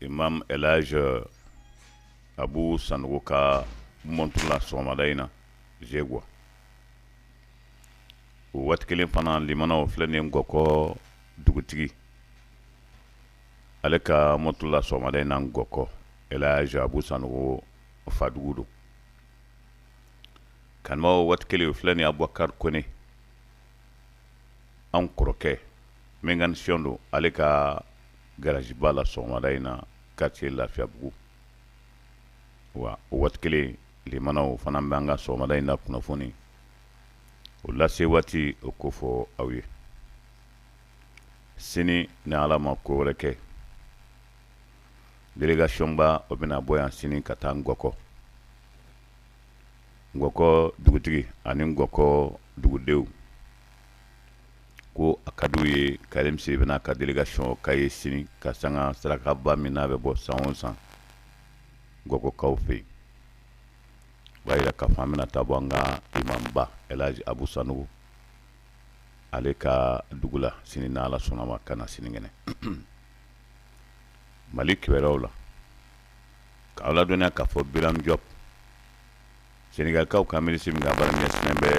imam elaji euh, abu sanogo ka montre la sɔgɔmada in na zegwa o waati kelen fana limanaw filɛ nin ngɔkɔ dugutigi ale ka montre la sɔgɔmada in na ngɔkɔ elaji abu sanogo fadugu don kanubaw waati kelen o filɛ nin abubakari kone anw kɔrɔkɛ mécanicien don ale ka garaziba la sɔgɔmada in na quartier Lafiyabugu wa o waati kelen limanaw fana bɛ an ka sɔgɔmada in na kunnafoni o lase waati o k'o fɔ aw ye sini ni Ala ma ko wɛrɛ kɛ délégation ba o bɛna bɔ yan sini ka taa Ngɔkɔ Ngɔkɔ dugutigi ani Ngɔkɔ dugudenw ko a ka di u ye karim siribe n'a ka délégation ka ye sini ka sanga sarakaba min n'a bɛ bɔ san o san ngɔkɔkaw fɛ yen b'a jira k'a fɔ an bɛna taa bɔ an ka imamba elaji abu sanogo ale ka dugu la sini n'ala sɔnna ma ka na sinikɛnɛ mali kibaruyaw la k'aw ladɔnniya k'a fɔ biram jɔp senegalikaw ka minisiri min ka baara ɲɛsinnen bɛ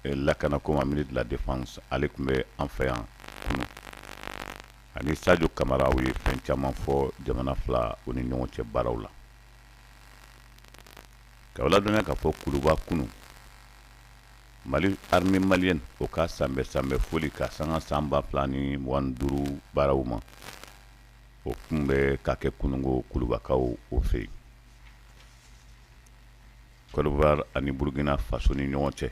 eh, lakana ko ma ministre de la défense ale tun bɛ an fɛ yan kunu ani sadio kamara u ye fɛn caman fɔ jamana fila u ni ɲɔgɔn cɛ baaraw la k'aw ladɔnniya k'a fɔ kuluba kunu mali armée malienne o ka sanbɛ sanbɛ foli ka sanga san ba fila ni mugan ni duuru baaraw ma o tun bɛ ka kɛ kunu ko kulubakaw o fɛ yen Kɔdiwari ani Burukina faso ni ɲɔgɔn cɛ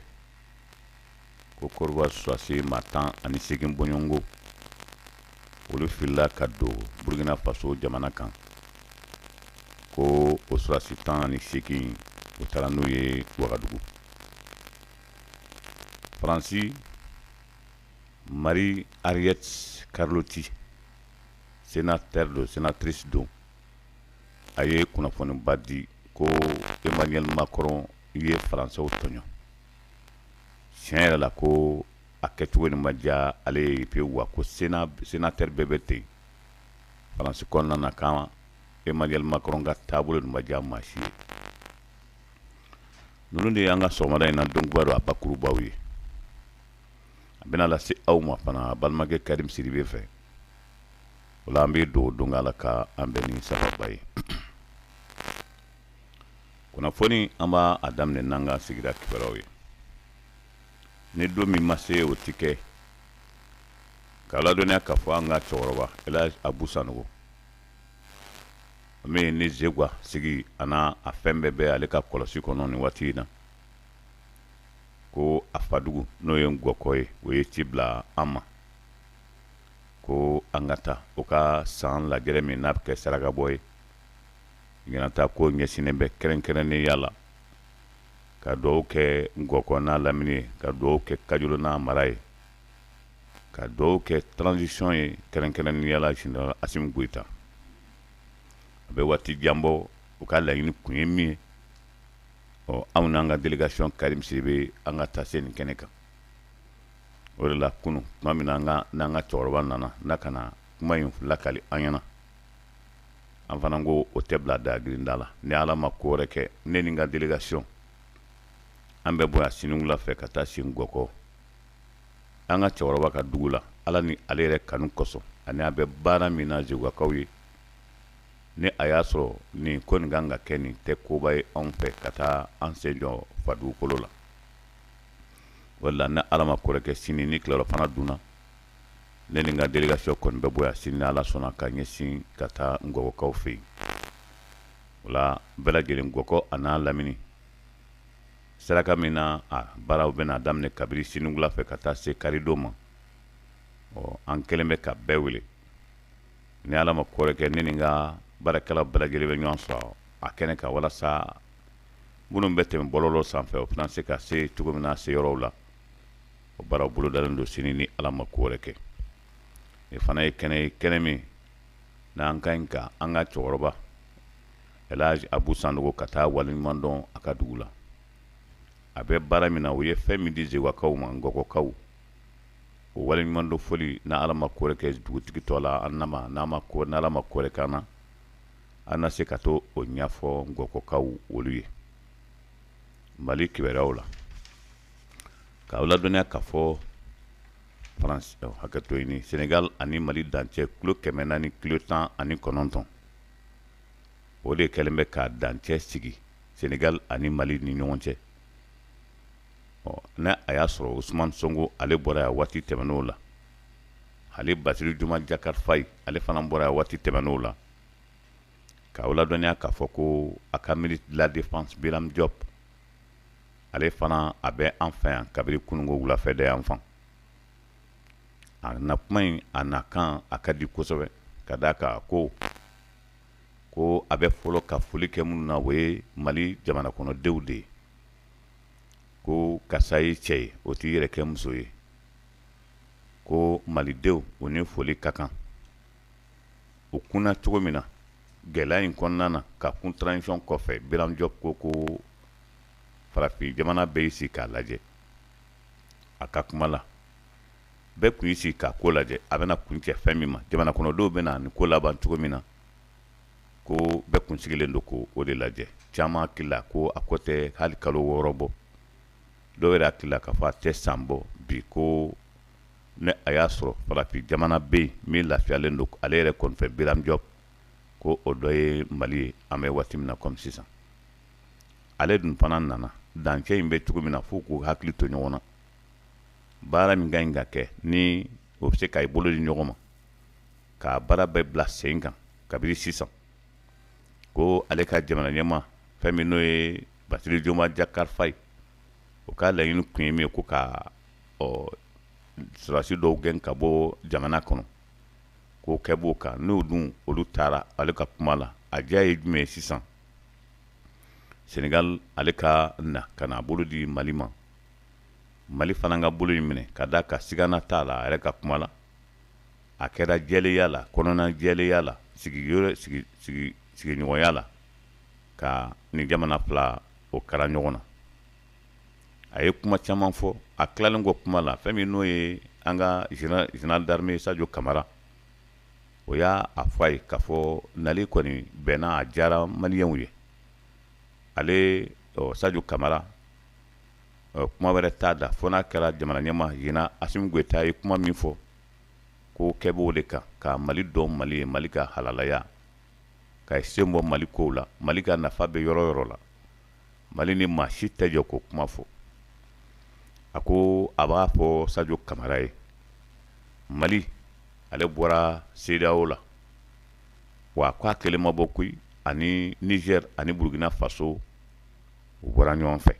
ko Kɔdiwari sɔrɔdasi maa tan ani seegin bɔɲɔgɔnko olu filila ka don Burukina faso jamana kan ko o sɔrɔdasi tan ani seegin u taara n'u ye Wagadugu Faransi Marie Arlette Carlotti sénateur don sénatrice don a ye kunnafoniba di ko emmanuel macron ye faransɛw tɔɲɔ tiɲɛ yɛrɛ la ko a kɛcogo nin ma diya ale ye pewu wa ko senatɛri bɛɛ bɛ ten faransi kɔnɔna na kan emmanuel macron ka taabolo nin ma diya maa si ye ninnu de y'an ka sɔgɔmada in na kibaru a bakurubaw ye a bɛna lase aw ma fana balimakɛ karim siribe fɛ o la an bɛ don don ala ka an bɛ ni sababu ye kunnafoni an b'a a daminɛ n'an ka sigira kibaruyaw ye ni don min ma se o ti kɛ k'aw ladɔnniya k'a fɔ an ka cɛkɔrɔba ɛlaji abu sanogo min ni zegwa sigi an'a a fɛn bɛɛ bɛ ale ka kɔlɔsi kɔnɔ nin waati in na ko a fadugu n'o ye ngɔkɔ ye o ye ci bila an ma ko an ka taa u ka san lajɛrɛ min n'a bɛ kɛ saraka bɔ ye ɲinan ta ko ɲɛsinnen bɛ kɛrɛnkɛrɛnnenya la ka duwaw kɛ ngɔkɔ n'a lamini ye ka duwaw kɛ kajolo n'a mara ye ka duwaw kɛ transisiyɔn ye kɛrɛnkɛrɛnnenya la general asimi goita a bɛ waati jan bɔ u ka laɲini kun ye min ye ɔ anw n'an ka delegasiyɔn kari bɛ an ka taa se nin kɛnɛ kan o de la kunun tuma min na an ka cɛkɔrɔba nana na ka na kuma in lakali an ɲɛna an fana ko o tɛ bila da grinda la ni ala ma ko wɛrɛ kɛ ne ni n ka delegasiyɔn an bɛ bɔ yan sini wula fɛ ka taa se ngɔkɔ an ka cɛkɔrɔba ka dugu la ala ni ale yɛrɛ kanu kosɔn ani a bɛ baara min na zegwakaw ye ni a y'a sɔrɔ nin ko nin kan ka kɛ nin tɛ koba ye anw fɛ ka taa an sen jɔ fadugukolo la wala ni ala ma ko wɛrɛ kɛ sini ni tilerɔfana dunna ne ni n ka delegasiyɔn kɔni bɛ bɔ yan sini ni ala sɔnna ka ɲɛsin ka taa ngɔkɔkaw fɛ yen wala bɛɛ lajɛlen ngɔkɔ an'a lamini saraka min na a baaraw bɛna daminɛ kabiri sini wula fɛ ka taa se karidon ma ɔ an kɛlen bɛ ka bɛɛ wele ni ala ma ko wɛrɛ kɛ ne ni n ka baarakɛla bɛɛ lajɛlen bɛ ɲɔgɔn sɔrɔ a kɛnɛ kan walasa minnu bɛ tɛmɛ bɔlɔlɔ sanfɛ o bɛna se ka se cogo min na se yɔrɔw la o baara bolodalen don sini ni ala ma ko wɛrɛ kɛ nin fana ye kɛnɛ ye kɛnɛ min n'an ka ɲi ka an ka cɛkɔrɔba ɛlaji abu sanogo ka taa waliɲuman dɔn a ka dugu la a bɛ baara min na o ye fɛn min di zegwakaw ma ngɔkɔkaw o waliɲuman dɔn foli ni ala ma ko wɛrɛ kɛ dugutigi tɔgɔ la an nama n'a ma ko n'ala ma ko wɛrɛ k'an na an na se ka to o ɲɛfɔ ngɔkɔkaw olu ye mali kibaruyaw la k'aw ladɔnniya k'a fɔ france eh, hakɛto ɲini senegal ani mali dancɛ kilo kɛmɛ naani kilo tan ani kɔnɔntɔn o de kɛlen bɛ ka dancɛ sigi senegal ani mali ni ɲɔgɔn cɛ ɔ ni a y'a sɔrɔ usman sonko ale bɔra yan waati tɛmɛnenw la ale basiru jomayi jakar fayi ale fana bɔra yan waati tɛmɛnenw la k'aw ladɔnniya k'a fɔ ko a ka ministre de la défense Biram Diop ale fana a bɛ an fɛ yan kabiri kununko wulafɛ de y'an fan a na kuma in a na kan a ka di kosɛbɛ ka d'a kan ko ko a bɛ fɔlɔ ka foli kɛ minnu na o ye mali jamanakɔnɔdenw de ye ko karisa ye cɛ ye o t'i yɛrɛ kɛ muso ye ko malidenw u ni foli ka kan o kunna cogo min na gɛlɛya in kɔnɔna na ka kun transition kɔfɛ Biram Diop ko ko farafin jamana bɛɛ y'i sigi k'a lajɛ a ka kuma la bɛɛ tun y'i sigi k'a ko lajɛ a bɛna kuncɛ fɛn min ma jamana kɔnɔdenw bɛna nin ko laban cogo min na ko bɛɛ kun sigilen don k'o de lajɛ caman hakili la ko a ko tɛ hali kalo wɔɔrɔ bɔ dɔw yɛrɛ hakili la k'a fɔ a tɛ san bɔ bi ko ni a y'a sɔrɔ farafin jamana bɛ yen min lafiyalen don ale yɛrɛ kɔnifɛ Biram Diop ko o dɔ ye mali ye an bɛ waati min na kɔmi sisan ale dun fana nana dancɛ in bɛ cogo min na fo k'u hakili to ɲɔgɔn na baara min ka ɲi ka kɛ ni o bɛ se ka i bolo di ɲɔgɔn ma k'a baara bɛɛ bila sen kan kabini sisan ko ale ka jamana ɲɛmaa fɛn min n'o ye Bassirou Diomaye Diakhar Faye o ka laɲini tun ye min ye ko ka ɔ sɔrɔdasi dɔw gɛn ka bɔ jamana kɔnɔ k'o kɛ b'o kan n'o dun olu taara ale ka kuma la a diya ye jumɛn ye sisan Senegal ale ka na ka n'a bolo di Mali ma Mali fana ka bolo in minɛ ka d'a kan sigana t'a la a yɛrɛ ka kuma la a kɛra jɛlenya la kɔnɔna jɛlenya la sigiyɔrɔ sigi sigi sigiɲɔgɔnya la ka nin jamana fila o kara ɲɔgɔn na a ye kuma caman fɔ a tilalen kɔ kuma la fɛn min n'o ye an ka général d'armée sajo kamara o y'a a fɔ ayi k'a fɔ nali kɔni bɛnna a diyara maliyɛnw ye ale sajo kamara kuma wɛrɛ t'a da fo n'a kɛra jamana ɲɛmaa général asimi goyita ye kuma min fɔ ko kɛ b'o de kan ka mali dɔn mali ye mali ka halalaya ka i sen bɔ mali ko la mali ka nafa bɛ yɔrɔ yɔrɔ la mali ni maa si tɛ jɛ k'o kuma fɔ a ko a b'a fɔ sajo kamara ye mali ale bɔra CEDEAO la wa ko a kelen ma bɔ koyi ani niger ani burukina faso u bɔra ɲɔgɔn fɛ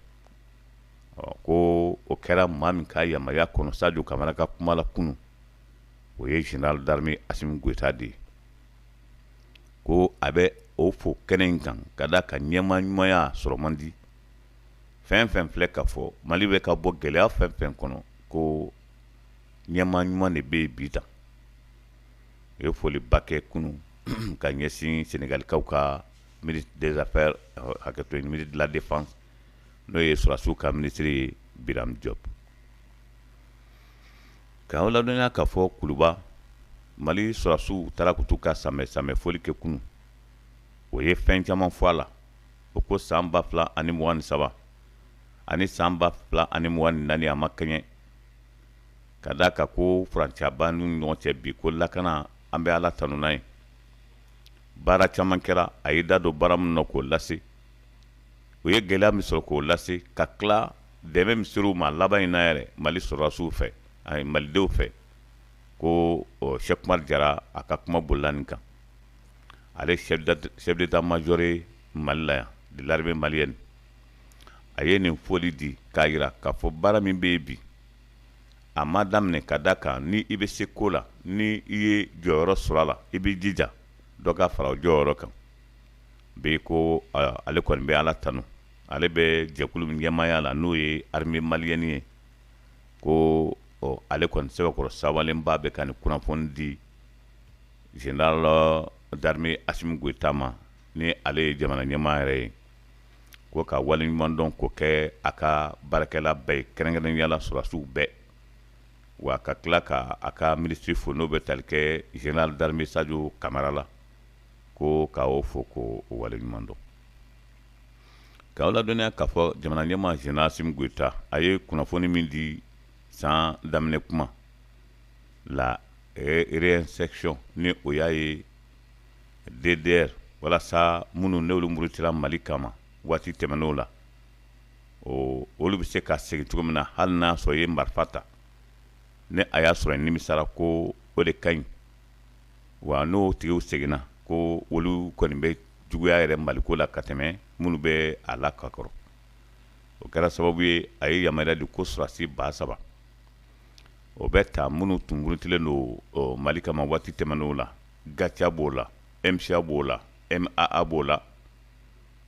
ko o kɛra maa min ka yamaruya kɔnɔ sajo kamara ka kuma la kunun o ye général d'armée asimi goyita de ye ko a bɛ o fo kɛnɛ in kan ka da a kan ɲɛma ɲumanya sɔrɔ man di fɛn fɛn filɛ ka fɔ mali bɛ ka bɔ gɛlɛya fɛn fɛn kɔnɔ ko ɲɛma ɲuman de bɛ bi tan u ye foliba kɛ kunun ka ɲɛsin senegalikaw ka ministre des affaires hakɛto ministre de la défense n'o ye sɔrasiw ka minisiri ye Birame Diop Ka aw ladɔnniya ka fɔ kuluba Mali sɔrasiw u taara ka t'u ka samɛ samɛ foli kɛ kunu, o ye fɛn caman fɔ a la, u ko san 2023 ani san 2024 a ma kɛɲɛ, ka d'a kan ko furancɛya b'an n'u ni ɲɔgɔn cɛ bi, ko lakana an bɛ Ala tanu n'a ye, baara caman kɛra, a y'i da don baara minnu na k'o lase, u ye gɛlɛya min sɔrɔ k'o lase ka tila Dɛmɛ min sera u ma laban in na yɛrɛ mali sɔrɔdasiw fɛ ani malidenw fɛ ko sɛki umaru jara a ka kuma bolila nin kan ale chef d'état-major mali la yan de l'armée malienne a ye nin foli di k'a jira k'a fɔ baara min bɛ yen bi a ma daminɛ ka d'a kan ni i bɛ se ko la ni i ye jɔyɔrɔ sɔrɔ a la i bɛ jija dɔ ka fara o jɔyɔrɔ kan bi ko ale kɔni bɛ ala tanun ale bɛ jɛkulu min ɲɛmaaya la n'o ye armée malienne ye ko ɔ ale kɔni sɛbɛkɔrɔ sɛwalenba bɛ ka nin kunnafoni di général d'armée Assimi Goïta ma ni ale ye jamana ɲɛmaa yɛrɛ ye ko ka waleɲumandɔn ko kɛ a ka baarakɛla bɛɛ ye kɛrɛnkɛrɛnnenya la sɔrɔdasiw bɛɛ wa ka tila ka a ka minisiri fo n'o bɛ tali kɛ général d'armée Sadio Kamara la ko ka o fo ko o waleɲumandɔn Ka aw ladɔnniya k'a fɔ jamana ɲɛma général Assimi Goïta a ye kunnafoni min di san daminɛ kuma la réinsertion ni o y'a ye DDR walasa minnu ni olu murutira mali kama waati tɛmɛnen la ɔ olu bɛ se ka segin cogo min na hali n'a sɔrɔ i ye marifa ta ni a y'a sɔrɔ i nimisara ko o de ka ɲi wa n'o tigiw seginna ko olu kɔni bɛ juguya yɛrɛ maliko la ka tɛmɛ minnu bɛ a la ka kɔrɔ o kɛra sababu ye a ye yamaruya di ko sɔrasi ba saba o bɛ ta minnu tun murutilen don mali kama waati tɛmɛnen la GATIA b'o la MSA b'o la MAA b'o la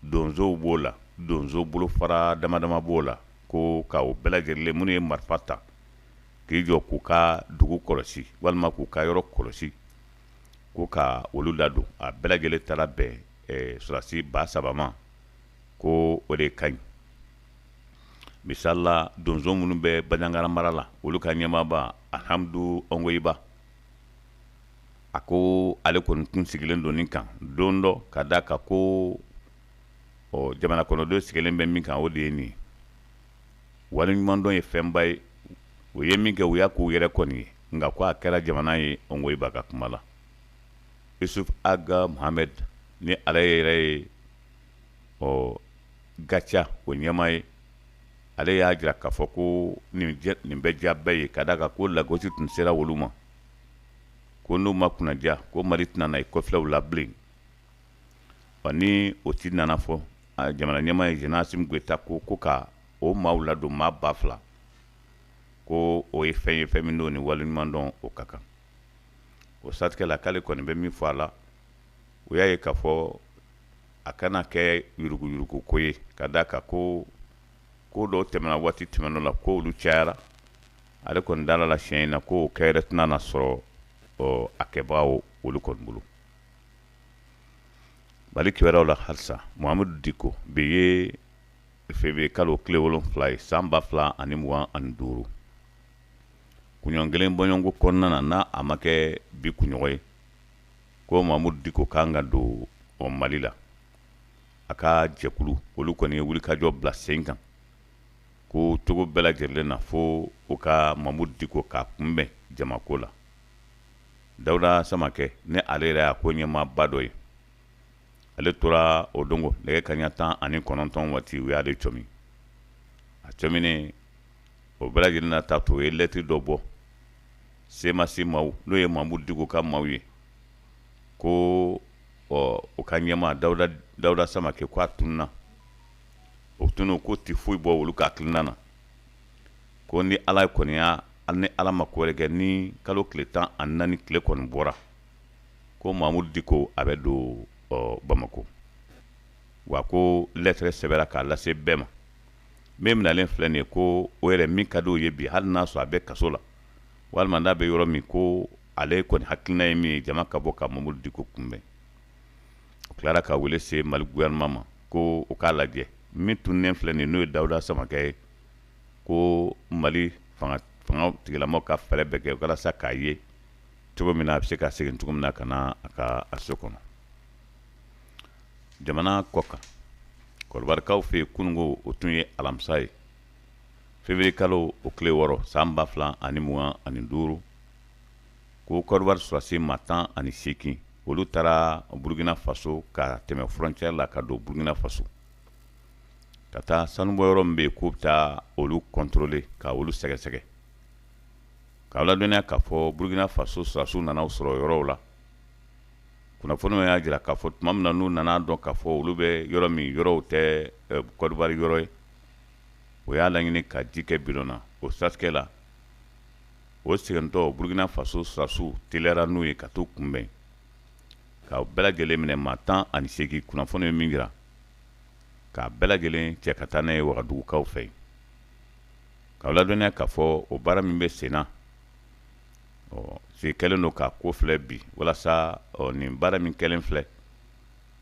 donsow b'o la donso bolofara dama dama b'o la ko ka o bɛɛ lajɛlen minnu ye marifa ta k'i jɔ k'u ka dugu kɔlɔsi walima k'u ka yɔrɔ kɔlɔsi ko ka olu ladon a bɛɛ lajɛlen taara bɛn eh, sɔrɔdasi ba saba ma ko o de ka ɲi misali la donso minnu bɛ banjagara mara la olu ka ɲɛmaaba alhamdu ongoyiba a ko ale kɔni tun sigilen don nin kan don dɔ ka d'a kan ko ɔ jamana kɔnɔdenw sigilen bɛ min kan o de ye nin ye waleɲumandɔn ye fɛnba ye u ye min kɛ u y'a k'u yɛrɛ kɔni ye nka ko a kɛra jamana ye ongoyiba ka kuma la yusuf ag mohamed ni ale yɛrɛ ye ɔ gatia o ɲɛmaa ye ale y'a jira k'a fɔ ko nin bɛ diya bɛɛ ye ka d'a kan ko lagosi tun sera olu ma ko n'u ma kunnadiya ko mali tɛna na i kɔ filɛ u la bilen ɔ ni o ti nana fɔ jamana ɲɛmaa ye général assimi goita ko ko ka o maaw ladon maa ba fila ko o ye fɛn ye fɛn min don ni waleɲumandɔn o ka kan o satigɛla k'ale kɔni bɛ min fɔ a la o y'a ye k'a fɔ a kana kɛ yuruguyuruguko ko ye ka d'a kan ko ko dɔw tɛmɛna waati tɛmɛnenw la ko olu cayara ale kɔni dalen a la siɲɛ in na k'o kɛyɔrɔ tɛna na sɔrɔ a kɛbaga olu kɔni bolo Mali kibaruyaw la halisa Mahamudu Diko bi ye février kalo tile wolonwula ye san ba fila ani mugan ani duuru kunɲɔgɔn kelen bɔɲɔgɔnko kɔnɔna na n'a a ma kɛ bi kunɲɔgɔn ye ko Mahamudu Diko ka kan ka don ɔ Mali la a ka jɛkulu olu kɔni ye wulikajɔ bila sen kan ko cogo bɛɛ lajɛlen na fo u ka Mahamudu Diko k'a kunbɛn jamako la dawuda samakɛ ni ale yɛrɛ y'a ko ɲɛmaaba dɔ ye ale tora o don ko nɛgɛ kanɲɛ tan ani kɔnɔntɔn waati u y'ale comi a comini o bɛɛ lajɛlen na ta to o ye lɛtiri dɔ bɔ semasi maaw n'o ye mamudu diko ka maaw ye ko ɔ u ka ɲɛmaa dawuda samakɛ k'a tununna o tununko tɛ foyi bɔ olu ka hakilina na ko ni ala y'an kɛnɛya ani ni ala ma ko wɛrɛ kɛ nin kalo tile tan ani naani tile kɔni bɔra ko mamudu diko a bɛ don bamakɔ wa ko lɛtɛrɛ sɛbɛnna k'a lase bɛɛ ma min minɛnlen filɛ nin ye ko o yɛrɛ min ka di' ye bi hali n'a sɔrɔ a bɛ kaso la walima n'a bɛ yɔrɔ min ko ale kɔni hakilina ye min ye jama ka bɔ ka mamudu diko kunbɛn o tilara ka wuli se mali gɔfɛrɛnaman ma ko u k'a lajɛ min tununnen filɛ nin n'o ye dawuda samakɛ ye ko mali fangatigilama ka fɛɛrɛ bɛɛ kɛ walasa k'a ye cogo min na a bɛ se ka segin cogo min na ka na a ka a so kɔnɔ jamana kɔkan kɔdiwarikaw fɛ yen kununko o tun ye alamisa ye feburuye kalo o tile wɔɔrɔ san ba fila ani mugan ani duuru ko kɔdiwari sɔrɔdasi maa tan ani seegin olu taara burukina faso ka tɛmɛ fɔrɔntiyɛri la ka don burukina faso ka taa sanubɔyɔrɔ min bɛ yen k'u bɛ taa olu kɔntɔrɔle ka olu sɛgɛsɛgɛ k'a ladɔnniya k'a fɔ burukina faso sɔrɔdasiw nana sɔrɔ yɔrɔ o la kunnafoni y'a jira k'a fɔ tuma min na n'u nana dɔn k'a fɔ olu bɛ yɔrɔ min yɔrɔ o tɛ kɔdiwari yɔrɔ ye u y'a laɲini ka ji kɛ bi na o satigɛ la u segintɔ burukina faso sɔrɔdasiw teliyara n'u ye ka taa kunbɛn ka bɛɛ lajɛlen minɛ maa tan ani seegin kunnafoni ye min jira k'a bɛɛ lajɛlen cɛ ka taa n'a ye wagadugukaw fɛ yen k'aw ladɔnniya k'a fɔ o baara min bɛ sen na ɔ se kɛlen don k'a ko filɛ bi walasa ɔ nin baara min kɛlen filɛ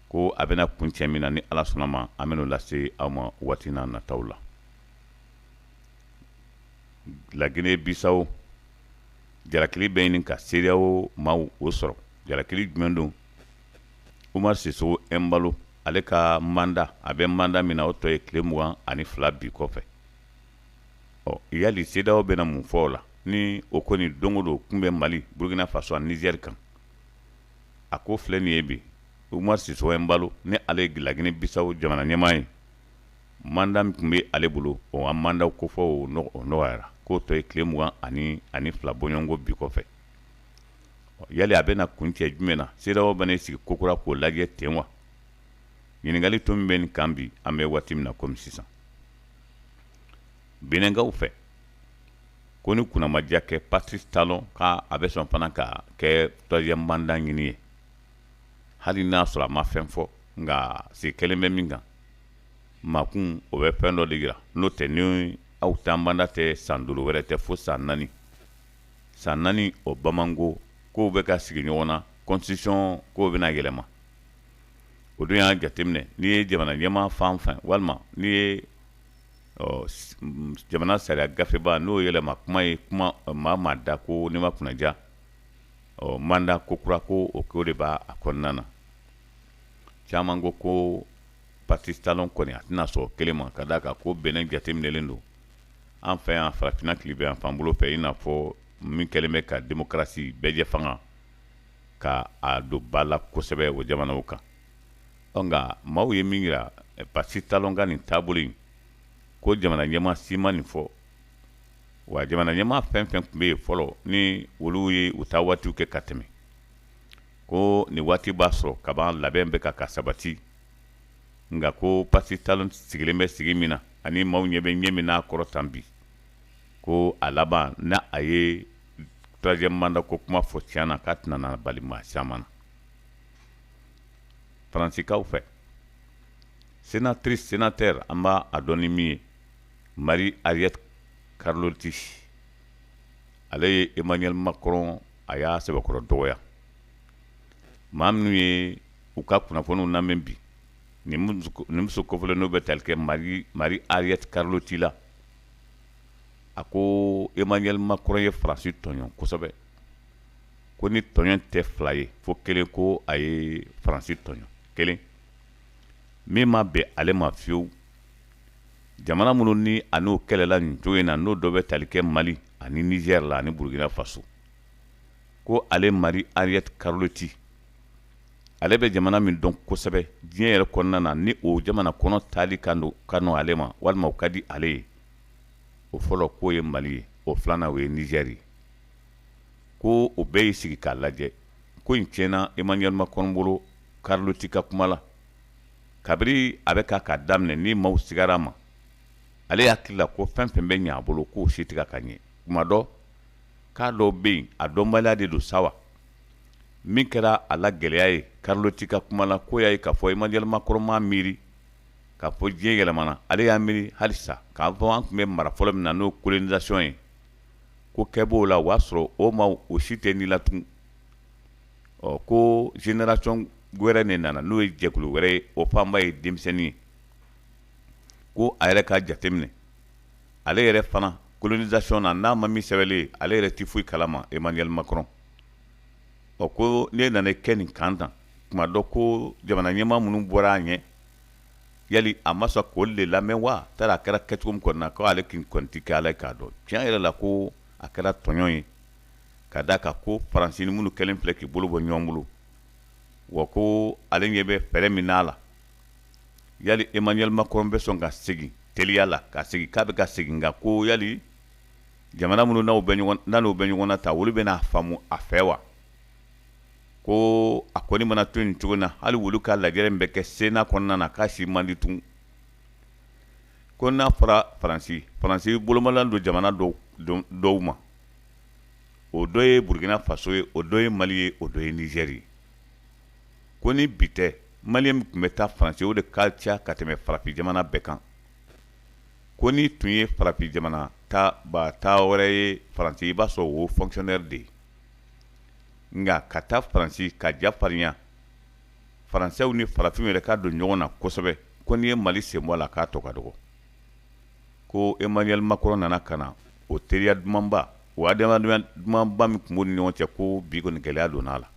ko a bɛna kuncɛ min na ni ala sɔnna a ma an bɛn'o lase aw ma waati n'a nataw la lagine bisawo jalakili bɛ ɲini ka sedeyawo maaw o sɔrɔ jalakili jumɛn don umaru sisoko ɛmbalo ale ka manda a bɛ manda min na o tɔ ye tile mugan ani fila bi kɔfɛ ɔ yali sedeyawo bɛna mun fɔ o la ni o kɔni don o don tun bɛ mali burukina faso ani nizɛri kan a ko filɛ nin ye bi umaru sisoko ɛmbalo ni ale ye lagine bisawo jamana ɲɛmaa ye manda min tun bɛ ale bolo o manda kofɔ o nɔgɔyara k'o tɔ ye tile mugan ani ani fila bɔɲɔgɔnko bi kɔfɛ yala a bɛna kuncɛ jumɛn na se bɛ sigi kokura k'o lajɛ ten wa ɲininkali o bɛ nin kan bi an bɛ waati min na kɔmi sisan benɛnkaw fɛ kɔni kunnamadiyakɛ kɛ patirisi talɔn k'a a bɛ sɔn fana ka kɛ turuwaziyɛmu manda ɲini ye hali n'a sɔrɔ a ma fɛn fɔ nka sigi kɛlen bɛ min kan makun o bɛ fɛn dɔ de jira n'o tɛ ni aw ta manda tɛ san duuru wɛrɛ tɛ fo san naani san naani o bamananko k'o bɛ ka sigi ɲɔgɔn na kɔnsititisɔn k'o bɛna yɛlɛma o don y'a jateminɛ n'i ye jamana ɲɛmaa fan fɛ walima n'i ye jamana sariya gafeba n'o yɛlɛma kuma ye kuma maa maa da ko ne ma kunnaja ɔ manda kokura ko o ko de b' a kɔnɔna na caman ko ko patirisi talɔn kɔni a tɛna sɔn o kelen ma ka d'a kan ko benɛn jateminɛlen don An fɛ yan farafinna tilebinyanfan bolo fɛ i n'a fɔ min kɛlen bɛ ka démocratie bɛɛjɛ fanga ka a don ba la kosɛbɛ o jamanaw kan ɔ nka maaw ye min jira Patrice Talon ka nin taabolo in ko jamana ɲɛmaa si ma nin fɔ wa jamana ɲɛmaa fɛn fɛn tun bɛ yen fɔlɔ ni olu ye u taa waatiw kɛ ka tɛmɛ ko ni waati b'a sɔrɔ kaban labɛn bɛ ka ka sabati nka ko patrice talon sigilen bɛ sigi min na ani maaw ɲɛ bɛ ɲɛ min n'a kɔrɔ tan bi ko a laban ni a ye troisième mandat ko kuma fɔ tiɲɛ na k'a tɛna bali maa caman na faransikaw fɛ sénatrice sénateur an b'a dɔn ni min ye marie-arlette carlotti ale ye emmanuel macron a y'a sɛbɛkɔrɔ dɔgɔya maa minnu ye u ka kunnafoniw lamɛn bi nin muso kɔfɛ n'o bɛ tali kɛ marie-arlette carlotti la a ko emmanuel macron ye faransi tɔɲɔ kosɛbɛ ko nin tɔɲɔ tɛ fila ye fo kelen ko a ye faransi tɔɲɔ kelen min ma bɛn ale ma fiyewu jamana minnu ni a n'o kɛlɛla nin cogo in na n'o dɔ bɛ tali kɛ mali ani nizɛri la ani burukina faso ko ale marie-arlette carlotti ale bɛ jamana min dɔn kosɛbɛ diɲɛ yɛrɛ kɔnɔna na ni o jamana kɔnɔ taali ka nɔgɔ ale ma walima o ka di ale ye o fɔlɔ k'o ye mali ye o filanan o ye nizɛri ye ko o bɛɛ y'i sigi k'a lajɛ ko nin tiɲɛna emmanuel macron bolo carlotti ka kuma la kabiri a bɛ ka k'a daminɛ ni maaw sigara ma ale hakili la ko fɛn fɛn bɛ ɲɛ a bolo k'o si tɛ ka ɲɛ kuma dɔ k'a dɔw bɛ yen a dɔnbaliya de don sa wa min kɛra a la gɛlɛya ye carlotti ka kuma la ko y'a ye k'a fɔ emmanuel macron ma a miiri k'a fɔ diɲɛ yɛlɛmana ale y'a miiri halisa k'a fɔ an tun bɛ mara fɔlɔ min na n'o colonisation ye ko kɛ b'o la o y'a sɔrɔ o maaw si tɛ ni la ɔ ko génération wɛrɛ de nana n'o ye jɛkulu wɛrɛ ye o fanba ye denmisɛnnin ye ko a yɛrɛ ka jateminɛ ale yɛrɛ fana colonisation na n'a ma min sɛbɛnbɛlen ale yɛrɛ tɛ foyi kalama emmanuel macron ɔ ko ne nana kɛ nin kan tan tuma dɔ ko jamana ɲɛmaa minnu bɔra a ɲɛ yali a ma sɔn k'olu de lamɛn wa taara a kɛra kɛcogo min kɔnɔna ko ale k'i kɔnti kɛ ala k'a dɔn tiɲɛ yɛrɛ la ko a kɛra tɔɲɔ ye ka da ka ko faransi ni minnu kɛlen filɛ k'i bolo bɔ ɲɔgɔn bolo wa ko ale ɲɛ bɛ fɛɛrɛ min n'a la yali emmanuel macron bɛ sɔn ka segin teliya la ka segin k'a bɛ ka segin nka ko yali jamana minnu n'aw bɛ ɲɔgɔn n'an'u bɛ ɲɔgɔn na ta olu bɛna faamu a fɛ wa ko a kɔni mana to nin cogo na hali olu ka lajɛrɛ min bɛ kɛ sena kɔnɔna na k'a si man di tun ko n'a fɔra faransi faransi bolomalan don jamana dɔw dɔw ma o dɔ ye burukina faso ye o dɔ ye mali ye o dɔ ye nizɛri ye ko ni bi tɛ maliyɛn min tun bɛ taa faransi o de ka ca ka tɛmɛ farafin jamana bɛɛ kan ko n'i tun ye farafin jamana ta ba ta wɛrɛ ye faransi i b'a sɔrɔ o fonctionnaire de ye nka ka taa faransi ka ja farinya faransɛw ni farafinw yɛrɛ ka don ɲɔgɔn na kosɛbɛ ko n'i ye mali sen bɔ a la k'a tɔ ka dɔgɔ ko emmanuel macron nana ka na o teriya dumanba o adamadenya dumanba min tun b'u ni ɲɔgɔn cɛ ko bi kɔni gɛlɛya donna a la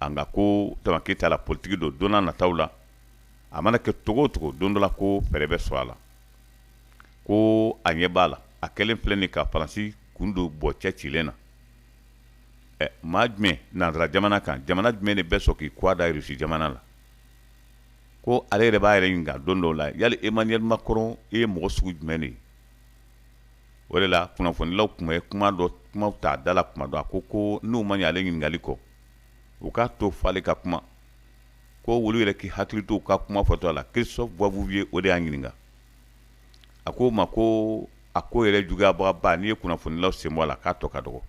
a nka ko tamakita la politiki don donna nataw la a mana kɛ cogo cogo don dɔ la ko fɛɛrɛ bɛ sɔrɔ a la ko a ɲɛ b'a la a kɛlen filɛ nin ka faransi kun don bɔ cɛ cilen na ɛ maa jumɛn nanzara jamana kan jamana jumɛn de bɛ sɔn k'i kɔ da irisi jamana la ko ale yɛrɛ b'a yɛrɛ ɲininka don dɔw la yali emmanuel macron i ye mɔgɔ sugu jumɛn de ye o de la kunnafonilaw tun bɛ kuma dɔ kumaw ta da la kuma dɔ a ko ko n'u ma ɲɛ ale ɲininkali kɔ u k'a to f'ale ka kuma ko wolu yɛrɛ k'i hakili to ka kuma fɔtɔ a la christophe boisbouvier o de y'a ɲininka a k'o ma ko a ko yɛrɛ juguyabagaba n'i ye kunnafonilaw sen bɔ a la k'a tɔ ka dɔgɔ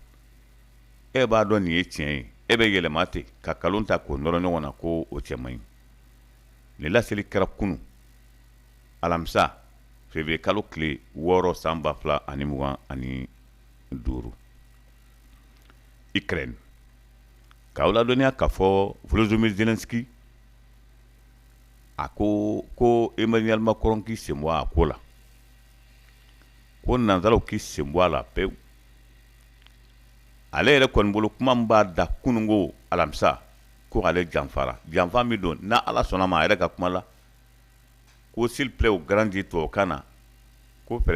e b'a dɔn nin ye tiɲɛ ye e bɛ yɛlɛma ten ka kalon ta k'o nɔrɔ ɲɔgɔn na ko o cɛ man ɲi nin laseli kɛra kunu alamisa février kalo tile wɔɔrɔ san ba fila ani mugan ani duuru ukraine K'aw ladɔnniya k'a fɔ Volodymyr Zelenskyy a ko ko Emmanuel Macron k'i senbɔ a ko la, ko nanzaraw k'i senbɔ a la pewu. Ale yɛrɛ kɔni bolo kuma min b'a da kununko alamisa ko ale janfara, janfa min don n'Ala sɔnna a ma a yɛrɛ ka kuma la ko s'il plaît au grand Dieu tubabukan na ko